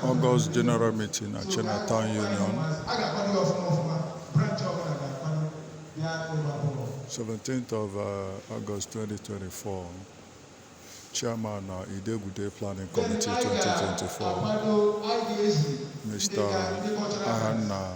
August General Meeting na China Town Union 17th of uh, August 2024 Chairman na uh, Idegude Planning Committee 2024 Mr. Ahanna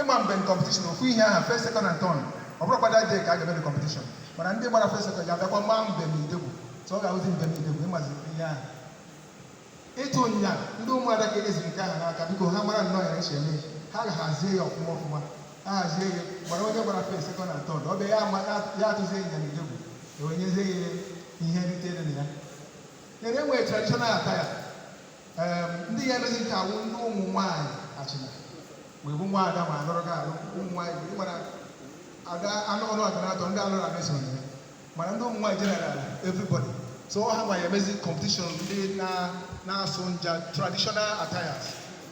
ịma mbem competition ofu ihe aha first second and third ọ bụrọkwa that day ka a ga-eme competition mana ndị gbara first second ga-abịakwa maa mbem idegwu so ọ ga-awụzi mbem idegwu ịmazi ihe ahụ ịtụ ịnya ndị ụmụada ka e jizi nke ahụ n'aka because ha mara nnọọ ya eche eme ha ga-hazie ya ọfụma ọfụma ha hazie ya gbara onye gbara first second and third ọ bịa ya ama ya atụzie ịnya na idegwu e wee nyezie ya ihe nrite dị na ya then e nwee traditional attire ndị ya-emezi nke a wụ ndị ụmụ nwaanyị achịna wee bụ nwa ada ma alụrụ gị alụ ụmụ nwaanyị bụ ịmara ada anụ ọrụ adara atọ ndị alụrụ abịa soro ya mana ndị ụmụ nwaanyị general everybody so ọ ha ma ya emezi competition ndị na-asụ nja traditional attires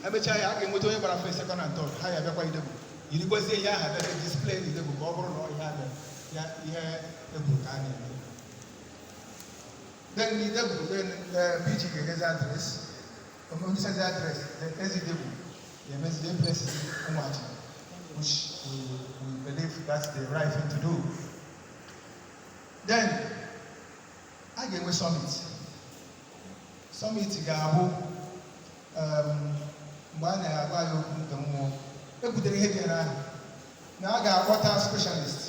emechaa ya a ga-enweta onye gbara first second and third ha ya abịakwa idegwu yirikwazie ihe aha bịa display idegwu ka ọ bụrụ na ọ ihe a na- ya idegwu ka a na-eme Then Idegwu, then uh, PG ga-enyezi address. When o nyesịzie address, then eze Idegwu ga-emezi the blessing ịwa ọjị, which we, we believe that's the right thing to do. Then, a ga-enwe summit. Summit ga-abụ um, mgbe a na-agwa ya okwu nke mmụọ. E butere ihe dị ahụ na a ga-akpọta specialist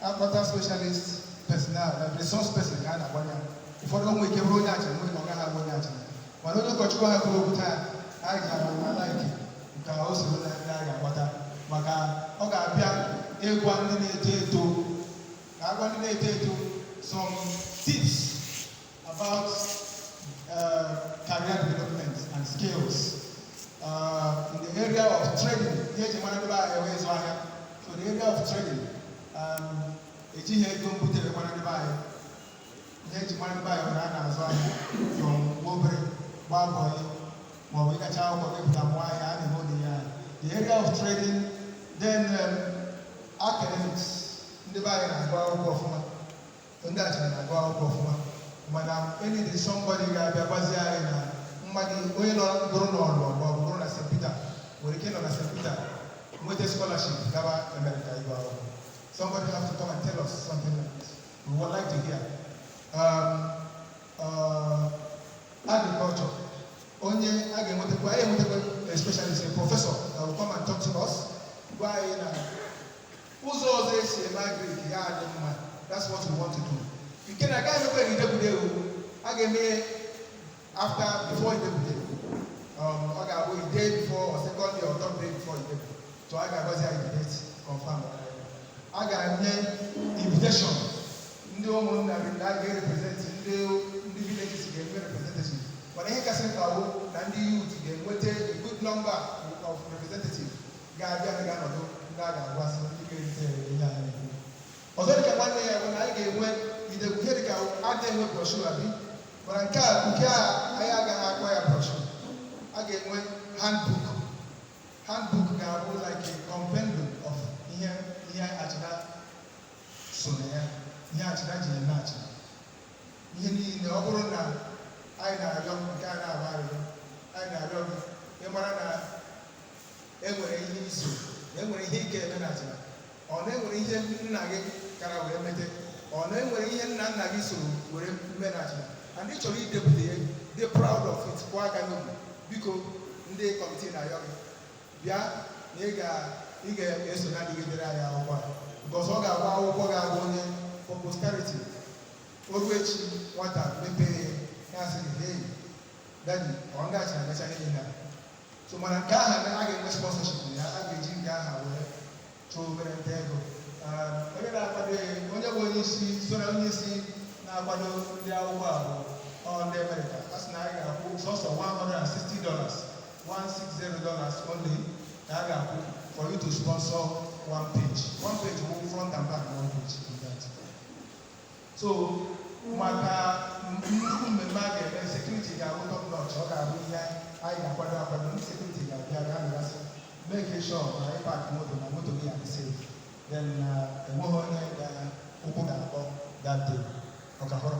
akpọta specialist personnel na resource person ga na-agwa anyị ụfọdụ o nwere ike bụrụ onye achịna nwere ike ọ gaghị abụ onye achịna mana onye ụkọchukwu aha kwuru okwu taa anyị gara a-like ka o soro na ndị anyị ga-akpọta maka ọ ga-abịa ịgwa ndị na-eto eto ka agwa ndị na-eto eto some tips About uh, career development and skills uh, in the area of trading, ihe eji mara ndị be anyị wụ ịzụ ahịa. So the area of trading, um, ejighị ego mbute wee mara ndị be anyị. Ihe eji mara ndị be anyị wụ na a na-azụ ahịa from obere gbaa bọyị maọbụ ị gachaa akwụkwọ pụta mụọ ahịa a na-eme ụdị ya. The area of trading, then um, academics, ndị be anyị na-agụ akwụkwọ ọfụma. ndị achịna na-agụ akwụkwọ ọfụma mana anyị need somebody ga-abịa gwazie anyị na mmadụ onye nọ bụrụ na ọlụ ma ọ bụrụ na St. Peter nwere ike nọ na St. Peter nweta scholarship gaba America ịgụ akwụkwọ somebody have to come and tell us something like this we would like to hear um, uh, agriculture onye a ga-enwetakwa anyị enwetakwa a specialist a professor that will come and talk to us gwa anyị na ụzọ ọzọ esi eme agrik ya adị mma that's what we want to do nke na agaghị emekwa idegwu day a ga-eme after before idegwu day um, ọ ga-abụ a day before or second day or third day before idegwu day so a ga-agwazi anyị date confirm a ga-enye invitation ndị ụmụnna gị na a ga-represent ndị ndị villages ga-enwe representative but ihe kasị mkpa bụ na ndị youth ga-enweta a good number of representative ga-abịa na ga-anọdụ ndị a ga-agwasị ndị ga-erite ere ihe a na-ekwu ọzọ dịka nwanne ya bụ na anyị ga-enwe idegwu ihe dịka a ga-enwe brochure abi but nke a nke a anyị agaghị akpọ ya brochure a ga-enwe handbook handbook ga-abụ like a compendium of ihe ihe achịna so na ya ihe achịna ji eme achịna ihe niile ọ bụrụ na anyị na-ayọ nke a ayịyọ anyị na-ayọ gị ịmara na enwere ihe i so na enwere ihe ike eme na achịna ọ na enwere ihe nna gị kara wee mete ọ na enwere ihe nna nna gị soro were mee na achịna and ị chọrọ idepụta ya ị dị proud of it kụọ aka n'obi biko ndị kọmitii na-ayọ gị bịa na ị ga ị ga-eso na ndị ga-edere anyị akwụkwọ a because ọ ga-abụ akwụkwọ ga-abụ onye for posterity o ru echi nwata mepee ya na-asị gị hey daddy ọ ndị achịna mecha ihe na so mana nke aha na a ga-enwe sponsorship na ya a ga-eji nke aha wee chụọ obere nta ego Um, onye na-akwado ya onye bụ onye isi so na onye isi na-akwado ndị akwụkwọ a bụ ọ ndị amerịka a sị na anyị ga-akwụ sọsọ 160 dollars 160 dollars only ka a ga-akwụ for you to sponsor one page one page wụ front and back na one page so maka nnukwu mmemme a ga-eme sekuriti ga-abụ top notch ọ ga-abụ ihe anyị ga-akwado akwado ndị sekuriti ga-abịa ga-anọgasị make sure na ị park moto na moto gị adị safe then uh, enweghị onye ga ụkwụ ga-akpọ that day ọkahọrọ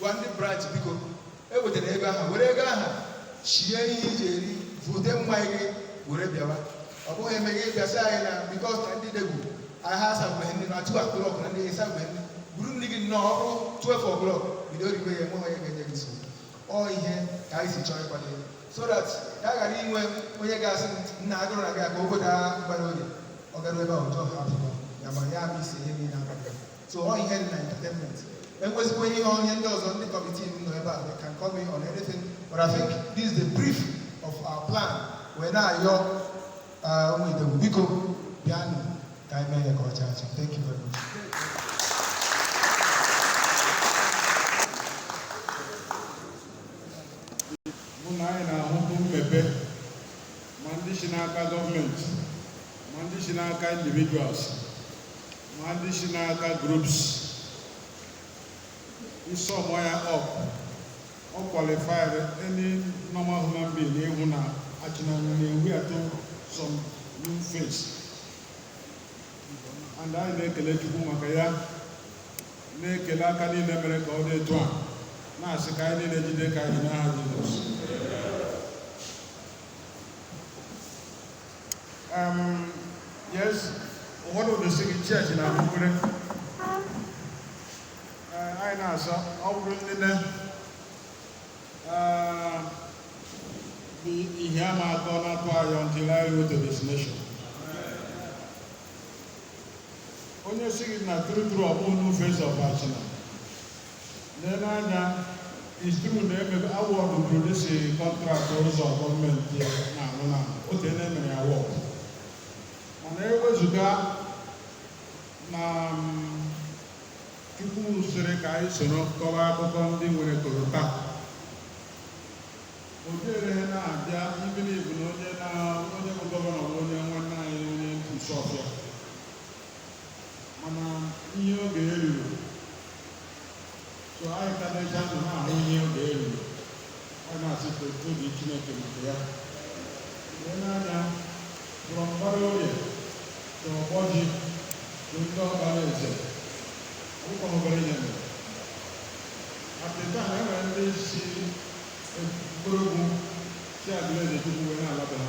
gwa ndị branch biko ewetara ego aha were ego aha shie ihe iji eri vute mmanya gị were bịawa ọ bụghị eme gị bịa sị anyị na because na ndị idegwu aha a servebeghị nri na 2 o'clock na ndị e servebeghị nri buru nri gị nọọ o ru 12 o'clock bido riwe ya enweghị onye ga-enye gị nsogbu ọ ihe ka anyị si chọọ ịkwado ya so that ka a ghara inwe onye ga-asị na agụrụ na gị aka obodo a gbara oge ọ gara ebe ahụ jọọ ha afọ ya ma ya bụ isi ihe niile abalị so ọ ihe na entertainment enwezikwa ihe onye ndị ọzọ ndị kọmitii nọ ebe a they can come in on anything but I think this is the brief of our plan wee na-ayọ uh, ụmụ Idegwu biko bịanụ ka anyị mee ya ka ọ chaa acha thank you very much bụ na anyị na-ahụbu mmepe ma ndị si n'aka gọọmenti ma ndị si n'aka individuals ma ndị si n'aka groups ị sọmọ ya up ọ qualify-rị any normal human being ịhụ na Achịna na-ewịatụ some new face and anyị na-ekele Chukwu maka ya na-ekele aka niile mere ka ọ dị etu a na-asị ka anyị niile jide ka anyị n'aha Jizọs ụfọdụ ụdịsị gị chọọchị na mkpụrụ anyị na-asọ ọ bụrụ nne ihe a na-akọ na-atụ anyị until I go to destination onye sị gị na true true ọ bụ new face of Achịna Nee anya it's true na-eme award produsi contract ụzọ gọọmenti na-arụ na otu e na-emere ya award mana ewezuga na Chukwu sịrị ka anyị soro kọwa akụkọ ndị nwere korota ọ dịrọ ihe na-abịa even if ọ bụ na onye na onye bụ gọvanọ bụ onye nwanne anyị onye Isuọfịa mana ihe oge ya ruru so anyị ka na-eji ndụ na-ahụ ihe oge ya ruru a na-asị tobe Chineke maka ya nee anya from Mbara Orie to Ogboji to Ndịọkpalaeze akụkọ obere ihe mere apịta na e nwere ndị si Nkpologwu si Aguluezechukwu wee na-ala be ha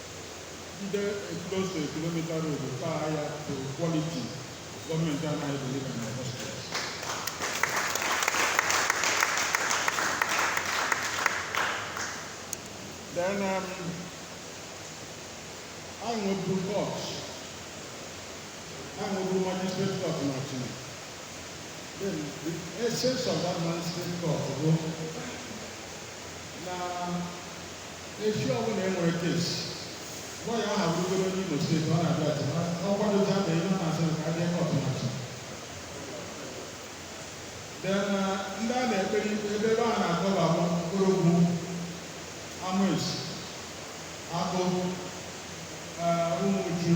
ndị close to a kilomita road taa ya to quality gọọmenti anaghị deliver na hospital then um, anyị nweburu court anyị nweburu magistrate court na Achịna then the essence of that magistrate court bụ na Echi ọbụla e nwere case, lọya ahụ abụrụgodu onye Imo steeti, ọ na-abịa Achịna ọkwa dozi ama ihe ọ na-asị ka a bịa court na Achịna. Then ndị a na-ekpere ikpe ebe ebe a na-akọba bụ Nkpologwu, Amesi, Akpo, Umuchu,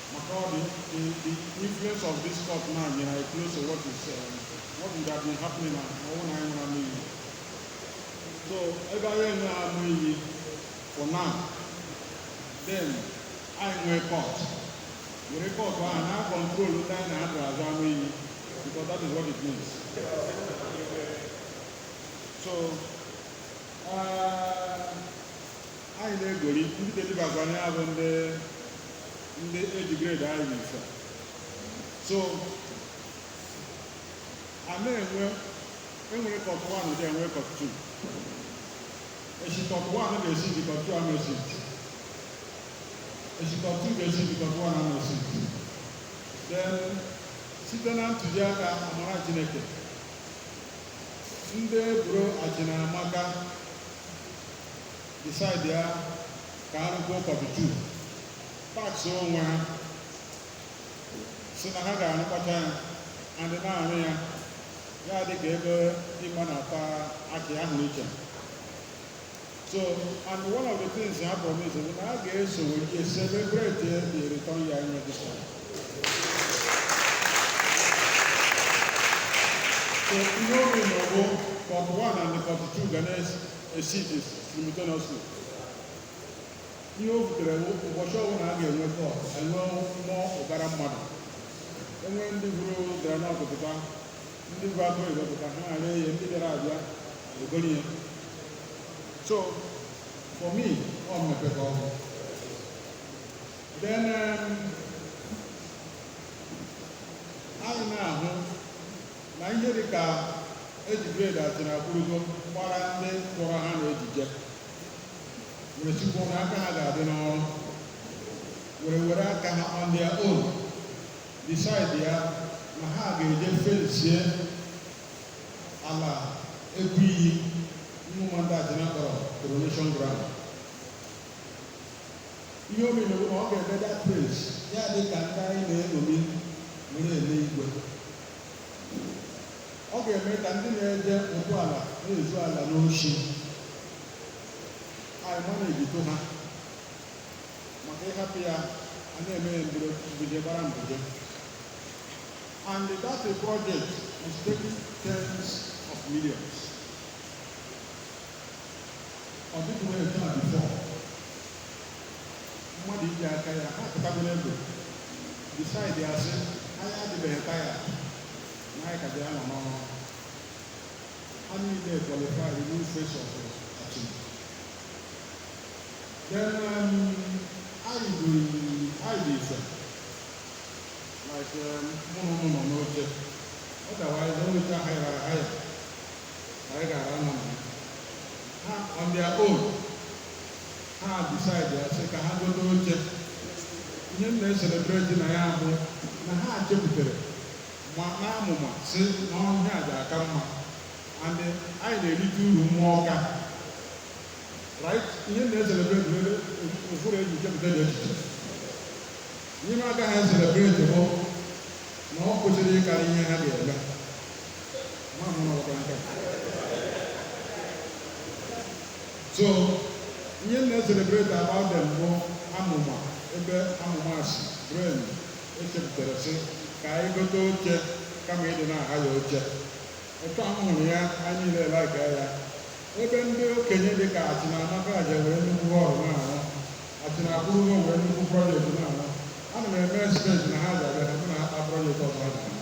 Maka ọ dị, the, the influence of this court now nyere anyị close to what is um, what would have been happening na ọ wụ na anyị nwere ama iyi. So ebe anyị enwe ama iyi for now, then anyị nwee court. Were court ahụ na control ndị anyị na-adụ azụ ama iyi because that is what it means. So, uh, anyị na-egori ndị delibakwa na ya bụ ndị ndị age grade anyị n'ife so a na-enwe enwere court 1 then enwee court 2 echi court 1 ga-esiti court 2 ama esi echi court 2 ga-esiti court 1 ama esi then site na ntụziaka amara chineke ndị buru ajinamaka decide ya ka ha rụkwuo court 2 tax onwe ha si na ha ga-arụpụta ya and na-arụ ya ya dị ka ebe ịma na-ata akị ahụ iche so and one of the things ha promise bụ na a ga-eso wee celebrate the return ya nye this one so ihe ọ mean bụ court 1 and court 2 ga na-esi esiti simultaneously ihe o butere bụ ụbọchị ọbụla a ga-enwe court enwe nnọọ ụbara mmadụ enwe ndị buru groundnut pụta ndị bu akụ ego pụta ha ghara ihe ndị bịara abịa egoro ihe so for me ọ mmepe ka ọ wụ then um, anyị na-ahụ na ihe dị ka age grade atịnakwurugo gbara ndị kpọrọ ha na ejije were sịkwuo na aka ha ga-adị n'ọrụ were were aka ha on their own decide ya na ha ga-eje fensie ala egwu iyi mmụma ndị atịna kpọrọ coronation ground ihe ọ mean bụ na ọ ga-eme that place ya dị ka ndị anyị na-eṅomi were ele igwe ọ ga-eme ka ndị na-eje ụkwụ ala na-ezu ala n'ochi anyị ma na-eji eto ha maka ị hapụ ya a na-eme ya mbido mbido gbara mbido and that project is taking tens of millions ọ dịghị wee taa before mmadụ iji aka ya ha pụtabere egwu decide a sị anyị adịbeghị taya na anyị ka dị anọ n'ọrụ ha niile kwalifari new face of Achina then um, anyị bụ anyị dị ife like um, mụ na unu nọ n'oche otherwise n'oche oche a hayara haya anyị gara anọ na ya ha on their own ha decide ya sị ka ha gote oche ihe m na-eselebreti na ya bụ na ha chepụtara ma maa amụma sị na ihe a ga-aka mma and anyị na-erite uru n'oge a right ihe m na-eselebreti bụ ụbụrụ e ji chepụta ụdị echiche ihe m agaghị eselebreti bụ na o kwesịrị ịkarị ihe ha ga-eme ma mụ na ọkwa nke a. So ihe m na-eselebreti about them bụ amụma ebe amụma si brain e chepụtara sị ka anyị gote oche kama ịdị na-ahaya oche otu a hụrụ ya anyị niile like ya ebe ndị okenye dị ka Achina amaka aja nwere nnukwu hall na-arụ Achina abroad nwere nnukwu project na-arụ ana m e-expect na ha ga-abịa na mụ na ha kpaa project ọzọ ha ga-arụ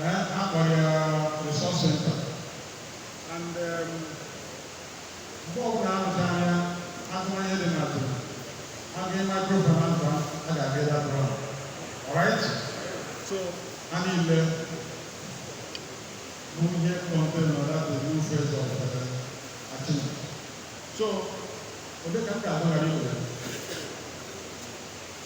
Eh, a kpọrọ ya resource center and um, mgbe ọbụla a rụchaa ya atụmanya dị n'azụ aga microfinance bank a ga-aga ebe atụrụ ahụ alright so ha niile bụ ihe contained na that new phase of uh, Achina so ebe ka m ga-adọghara iwere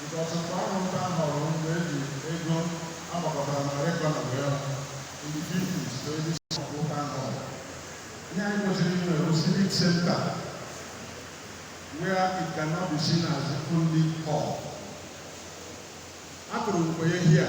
because mgbe a rụrụ town hall mgbe e ji ego agbakọtara na record ya in the 50s to early 60s ụka ahụ ihe anyị kwesịrị inwe bụ civic center where it cannot be seen as only hall akụrụ mgbe here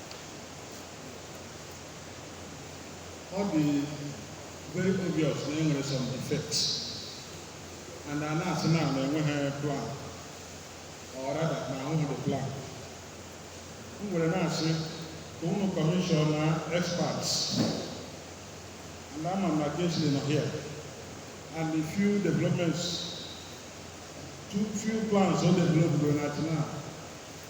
ọ dị very obvious na e nwere some defects and a na-asị na na enweghị plan or rather na ahụghị the plan m wee na-asị ka unu commission na experts and ama m na Kingsley nọ here and the few developments the few plans o developed n'Achina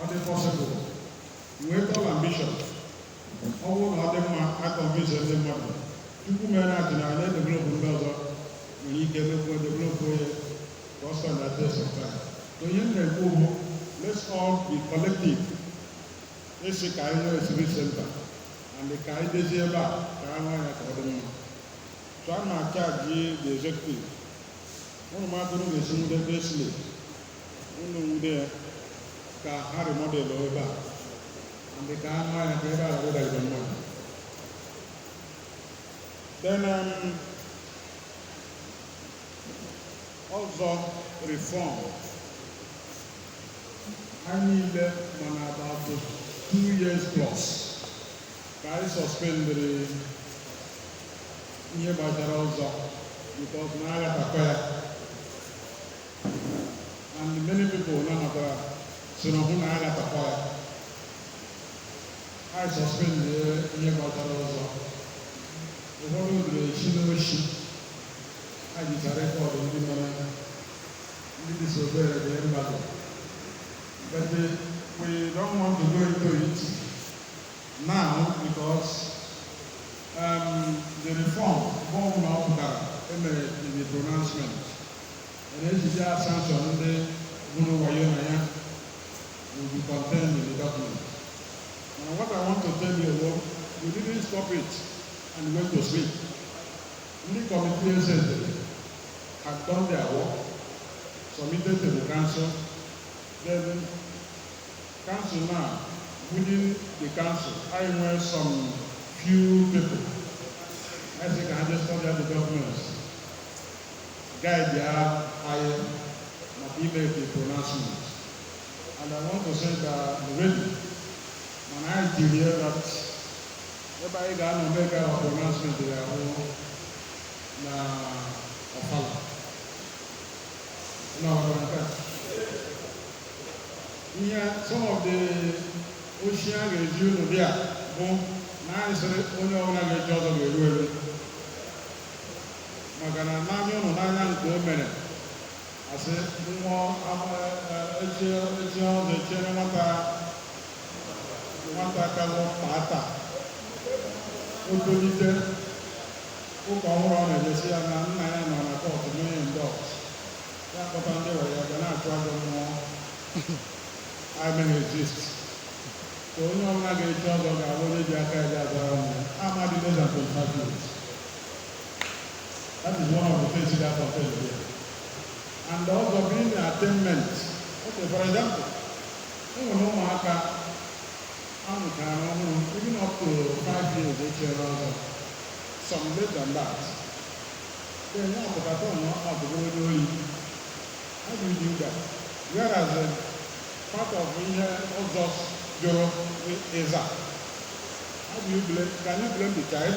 ọ dị possible nwee tall ambition ọ bụrụ na ọ dị mma a convince ndị mmadụ tupu mere na atụ na anyị edevelopụ ndị ọzọ nwere ike emekwu edevelopụ onye ka ọ stand the test of time so ihe m na-ekwu bụ let's all be collective a sị ka anyị nwee civic center and ka anyị dezie ebe a ka anyị nwee ya ka ọ dị mma so a na m achaji the executive unu ma ka unu ga-esi nwude ebe esile unu nwude ka ha remodelu ebe a and ka anụ ya ka ebe a rụda igwe mmadụ then um, ọzọ reform anyị niile ma na about two years plus ka anyị suspendịrị ihe gbasara ọzọ because na aghatakwa ya and many people nabatara sị na ọ bụ na ya gatakwa ya anyị suspend ihe gbasara ọzọ ụfọdụ ruru echi n'oshi anyị jicha record ndị mere ndị disobeyiri embargo but we don't want to go into it now because um, the reform bụrụ na ọ pụtara e mee the pronouncement Mana ejizi a sanction ndị gwuru wayo na ya will be contained in the document. Mana what I want to tell you bụ we didn't stop it and went to sleep. Ndị committee eze dere had done their work, submitted to the council, then council now within the council anyị nwere some few people. I think I just studied the documents. Guide ya anyị maka ime the pronouncement. And I want to say that already, mana anyị tiri ya that ebe anyị ga-anọ make our pronouncement ya bụ na ọfala. Na ọfala nke a. Ihe some of the ozi a ga-eji unu bịa bụ na anyị sịrị onye ọbụla ga-echi ọzọ ga-eru eru. Maka na n'anya unu n'anya m ka o mere, asị nwa echi echi ọzọ echiere nwata nwata ka a ku n'apata o tolite ụka ọhụrụ ọ na-eje sị ya na nna ya nọ na cult mee denounce ya kpọta ndị ekpere ya ga na-achụ ajọ mmụọ anaghị exist so onye ọbụla ga-echi ọzọ ga-abụ onye ji aka ya ga-azara ọnụ ya ọ ma dị lesser 25 years That is one of the things that I tell you. And ọzọ being attainment. Okay, for example, ụmụ ụmụaka a mụtara ọhụrụ even up to five years echiri ọzọ some less than that then ya pụtata ọnụ ọbụgo onye oyi how do you do that whereas uh, part of ihe ọzọ jụrụ is that how do you blame can you blame the child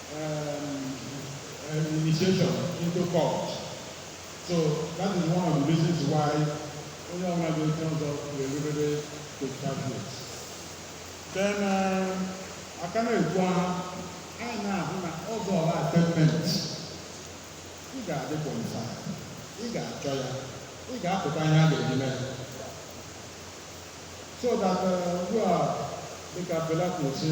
initiation into cult. So that is one of the reasons why onye ọbụla ga-echi ọzọ ga-erubere 25 years. Then uh, aka na-ekwu aha anyị na-ahụ na ọzọ bụ attainment ị ga-adị qualified ị ga-achọ ya ị ga-apụta ihe a ga-eji mee so that uh, ugbu a dịka Fela kwuru sị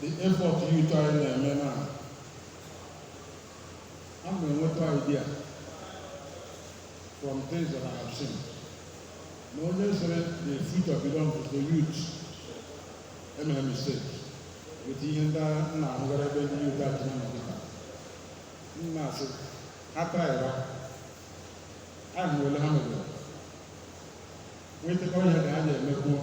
the effort youth anyị na-eme na a na-enweta idea from things that I have seen na onye sịrị the future belongs to the youth emere mistake with ihe ndị nna ahụgara ebe ndị youth achị na nọgịta nna asị ha traịra ahụ ole ha mebere nwetara ihe ka ha na-emekwuo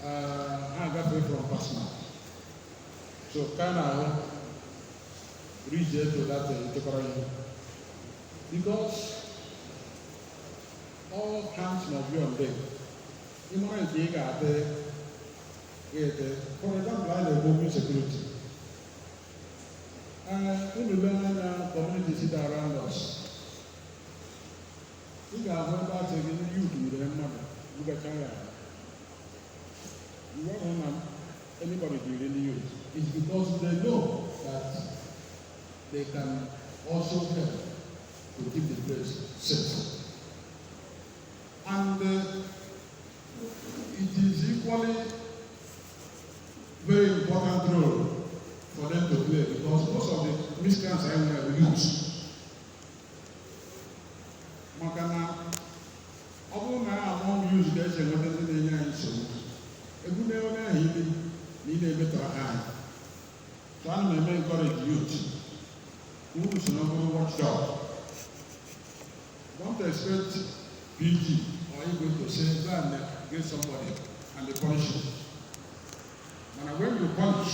ha agafe from personal so ka a na-ahụ rije eto data echekwara ihe because all hands must be on deck ịmara nke ị ga-ate ga-ete for example a na-ekwu okwu security unu lee anya communities that are around us ị ga-ahụ ebe a sị gị ndị yut nwere mmadụ mbecha ya ahụ. You won't hang on anybody during the youth. It's because they know that they can also help to keep the place safe. And uh, it is equally very important role for them to play because most of the miscreants are in the youth. maka na ọ bụrụ na among youths ga-eji enweta ndị na-enye anyị nsogbu egwu na onye ahụ ili na ị na-emetọrọ ha anyị so ana m eme encourage youth unu so na bụrụ watchdog don't expect PG or Igwe to say go and get somebody and they punish you mana when you punish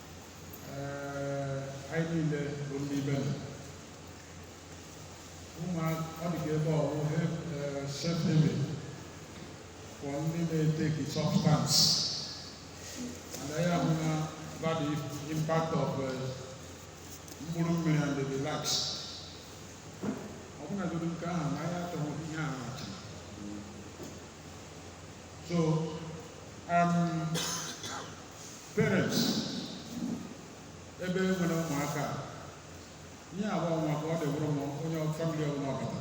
anyị niile bụ ndị ibe m ụmụ ọ dị ka ebe ọrụ especially for ndị na-eteki substance and anyị ma about the impact of mkpụrụ mmiri and the likes ọ bụrụ na nke ahụ na ya achọghị ihe ahụ So, um, parents, ebe e nwere ụmụaka, ihe agba ọnwa ka ọ dị bụrụ ma onye famili ọbụla ọbata.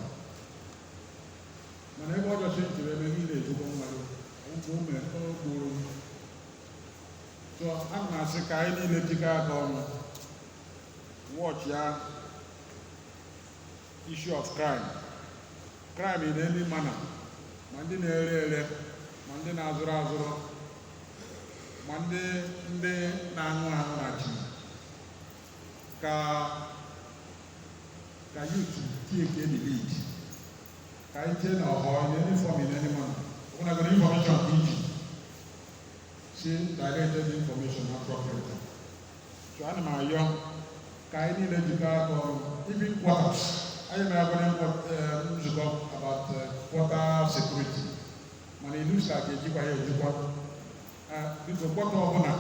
Mana ebe ọjọchi ntụrụ ebe ihe na-ejikwa mmadụ, ụmụ ume okpuru. So, a na-asị ka anyị niile jikọ aka ọnụ, watch ya issue of crime crime in any manner ma ndị na-ere ere ma ndị na-azụrụ azụrụ ma ndị ndị na-aṅụ aṅụ na chi ka ka youth take the lead ka anyị tie na ọhọ in any form in any manner ọ bụrụ na a got information ka e jisie directie information appropriately so ana m ayọ ka anyị niile jikọ aka ọnụ even Agụata anyị mere abụrụ nzukọ about Agụata security mana it looks like a ga-ejikwa ya ejikwa because kpọta ọbụla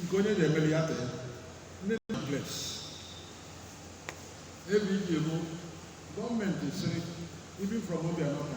nke onye na-emeli ya tee ndị na place ebe iji bụ gọọmenti sịrị even from Obiano ka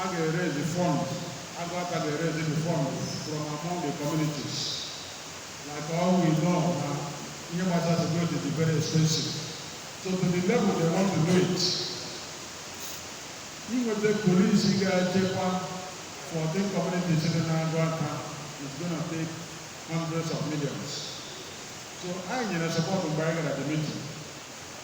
a ga-eraise fund Agụata ga-eraise the fund from among the communities like all we know na ihe gbasara security dị very expensive so to the level they want to do it inweta polisi ga-echekwa fourteen communities dị na Agụata is going to take hundreds of millions so anyị nyere support mgbe anyị gara the meeting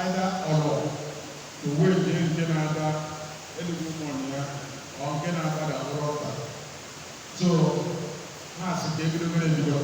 Either ọlọ uwe nje nke na-ada eluigwe ụmụnụ ya or nke na-agbada bụrụ ọta so ha sị ka e bido mere ebido